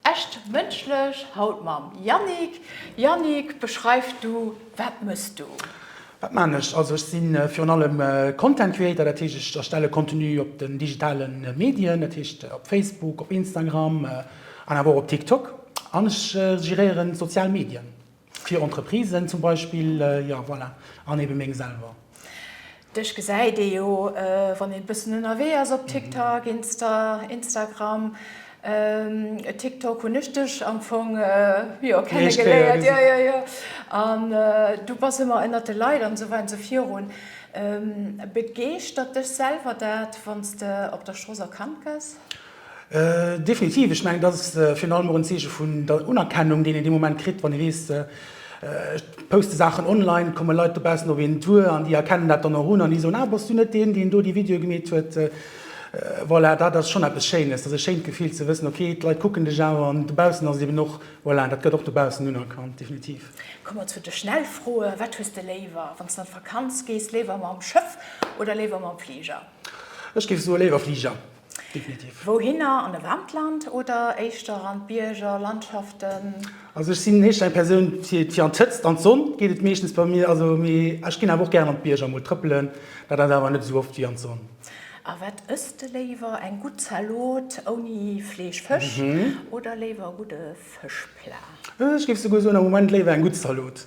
Echt mënschlech haut mam Yannick. Yannick, beschreif du, wat mëss du? Wat maan ech? Also ech si virun allem Content Creator, dat heescht ech erstelle Contenu op den digitale Medien, dat heescht op Facebook, op Instagram an awer och op TikTok an ech geréieren d'sozial Medien. Fir Entreprisen zum Beispill, jo voilà, an eben meng selwer. Dech gesäit ee jo wann een e bëssen ënnerwee ass op TikTok, Insta, Instagram, TikTok hunn ech dech am Fong jo kenne geléiert, jo jo jo, an du bass ëmmer ënnert de Leit an esou weider an esou virun. Begeeschtert dech selwer dat wann s de op der Strooss erkannt gëss? Definitiv. Ech mengen, dat ass virun allem och en Zeeche vun der Unerkennung, deen een dee Moment kritt, wann ee weess, ech poste Saachen online, et komme Leit dobaussen op een duer an déi erkennen dat dann och un an déi soen, ah, bass du net deen, deen do déi Videoe gemeet huet? Voilà, dat ass schonn eppes Schéines. Dat ass e schéint Gefill ze wëssen, okay, d'Leit kucken dech awer an. Dobaussen ass et eben och, voilà, dat gëtt och dobaussen unerkannt, definitiv. Komme mer zu de Schnellfroe, Wat hues de léiwer, wann s de an d'Vakanz gees, léiwer mam Schëff oder léiwer mam Fliger? Ech géif soe léiwer Fliger. Definitiv. Wouhinner? An e waarmt Land oder éischter an d'Bierger, Landschaften? Also ech sinn éischter eng Persoun fir fir an d'Hëtzt, an d'Sonn geet et meeschtens bei mir. Also mee ech ginn awer och gären an d'Bierger emol trëppelen, dat ass awer net esou oft wéi an d'Sonn. A wat ësst de léiwer, eng gutt Zalot ouni Fleesch, Fësch oder léiwer e gudde Fëschplat? Ech géif souguer soen, am Moment léiwer eng gutt Zalot.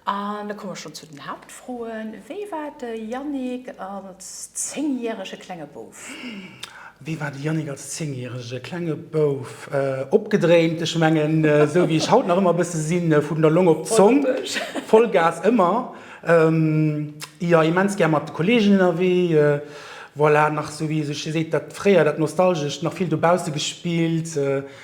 An da komme schonn zu den Haaptfroen, Wéi war de Yannick als zéngjärege klenge Bouf? Wéi war de Yannick als zéngjärege klenge Bouf? Opgedréint, ech mengen, esou wéi ech haut nach ëmmer e bësse sinn, vun der Long op d'Zong, Vollgas ëmmer, jo, immens gär mat de Kolleegen ënnerwee, voilà, nach esou wéi sech seet, dat fréier, dat Nostalgescht, nach vill dobausse gespillt.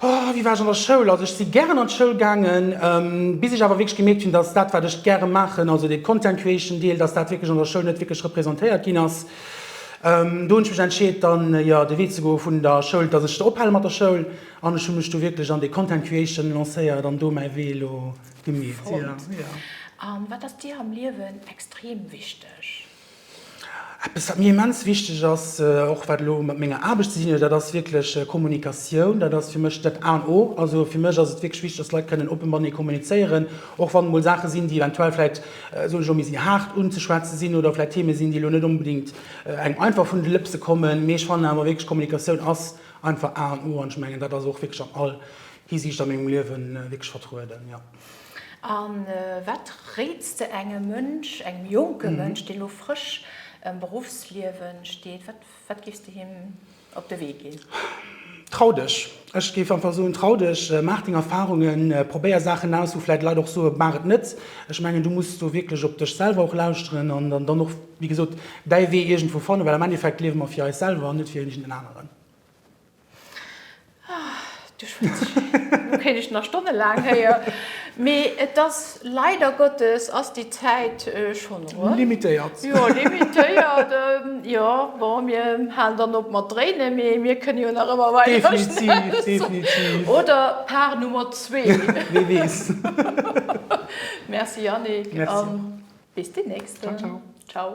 Wéi war ech an der Schoul? Also ech si gären an d'Schoul gaangen, bis ech awer wierklech gemierkt hunn, dass dat wat ech gäre maachen, also de Content Creation Deel, dass dat wierklech an der Schoul net wierklech representéiert ginn ass. Do hunn ech mech entscheet dann jo de Wee ze goe vun der Schoul, dass ech ophale mat der Schoul an ech hu mech du wierklech an de Content Creation lancéiert an do mäi Wee elo gemeet. Fonnt. An wat ass dir am Liewen extrem wichteg? Eppes, wat mir immens wichteg ass, och wat elo mat menger Aarbecht ze dinn huet, dat ass wierklech Kommunikatioun. Dat ass fir mech dat A an O. Also fir mech ass et wierklech wichteg, dass Leit kënnen oppe matenee kommunizéieren, och wann emol Saache sinn, déi eventuell vläicht, soen ech elo, méi si haart unzeschwätze sinn oder vläicht Theme sinn, déi elo net onbedéngt engem einfach vun de Lëpse kommen. Mee ech fannen awer wierklech, Kommunikatioun ass einfach A an O. An ech mengen, dat ass och wierklech an all Hisiicht a mengem Liewe wierklech vertrueden, jo. A wat réits de engem Mënsch, engem jonke Mënsch, dee lo frësch am Beruffsliewe steet, wat géifs de him op de Wee ginn? Trau dech! Ech géif einfach soen, trau dech, maach deng Erfarungen, probéier Saachen aus, wou vläicht Leit och soen, maach et net. Ech mengen, du muss do wierklech op dech selwer och lauschteren an dann och, wéi gesot, däi Wee iergendwou fannen, well am Endeffekt liewe mer fir eis selwer an net fir iergendeen aneren. Du schwätz ech vill. Do kéint ech nach stonnelaang héier. Mee et ass, leider Gottes ass déi Zäit schonn eruer. Limitéiert. Jo, limitéiert. Jo, bon, mir halen dann op mat dréinen, mee mir kënne jo nach ëmmer weider schwätzen. Definitiv, definitiv. Oder Part Nummer zwee. Wee weess. Merci Yannick. Merci. An bis déi nächst. Ciao, ciao. Ciao.